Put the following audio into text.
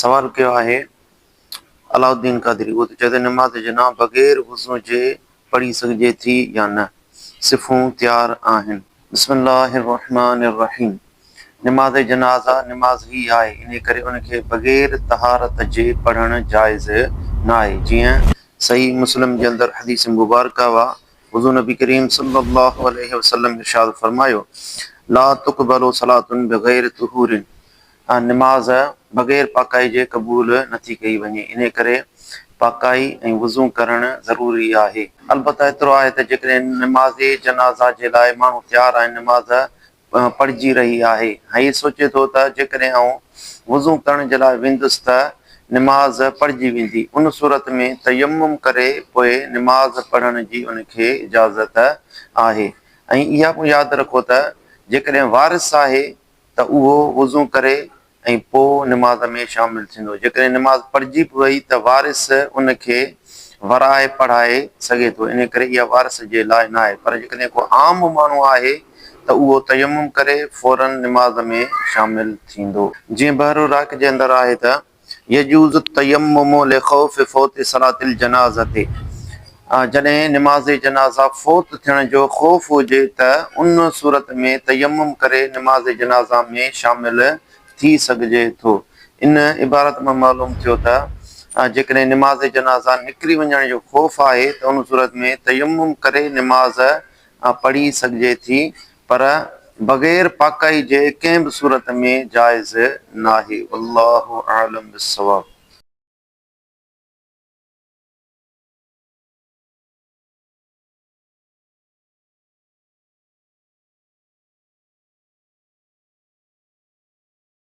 سوال ڪيو آهي علاء الدين قادري اهو ته چئي ته نماز جناح بغير وضو جي پڙهي سگهجي ٿي يا نه صفون تيار آهن. بسم الله الرحمٰن الرحيم نماز جنازه نماز هي آهي انهي ڪري ان کي بغير طهارت جي پڙهڻ جائز ناهي جيئن صحيح مسلم جي اندر حديث مبارڪه وا حضور نبي ڪريم صلي الله عليه وسلم ارشاد فرمايو لا تقبل صلات بغير طهور نماز بغير پاڪائي جي قبول نه ٿي ڪئي وڃي، انهيء ڪري پاڪائي ۽ وضو ڪرڻ ضروري آهي. البته ايترو آهي ته جيڪڏهن نماز جنازه جي لاء ماڻهو تيار آهن، نماز پڙهجي رهي آهي ۽ هي سوچي ٿو ته جيڪڏهن آئون وضو ڪرڻ جي لاء ويندس ته نماز پڙهجي ويندي، ان صورت ۾ تيمم ڪري پوء نماز پڙهڻ جي ان کي اجازت آهي ۽ اها پڻ ياد رکو ته جيڪڏهن وارث آهي ته اهو وضو ڪري ۽ پوء نماز ۾ شامل ٿيندو، جيڪڏهن نماز پڙهجي به وئي ته وارث ان کي ورائي پڙهائي سگهي ٿو، انهيء ڪري اها وارث جي لاء ناهي، پر جيڪڏهن ڪو عام ماڻهو آهي ته اهو تيمم ڪري فوراً نماز ۾ شامل ٿيندو. جيئن بحر الراق جي اندر آهي ته. يجوز التيمم لخوف فوت صلاة الجنازة جڏهن نماز جنازه فوت ٿيڻ جو خوف هجي ته ان صورت ۾ تيمم ڪري نماز جنازه ۾ شامل ٿي سگهجي ٿو. ان عبارت مان معلوم ٿيو ته جيڪڏهن نماز جنازه نڪري وڃڻ جو خوف آهي ته ان صورت ۾ تيمم ڪري نماز ها پڙهي سگهجي ٿي پر بغير پاڪائي جي ڪنهن به صورت ۾ جائز ناهي والله اعلم بالصواب.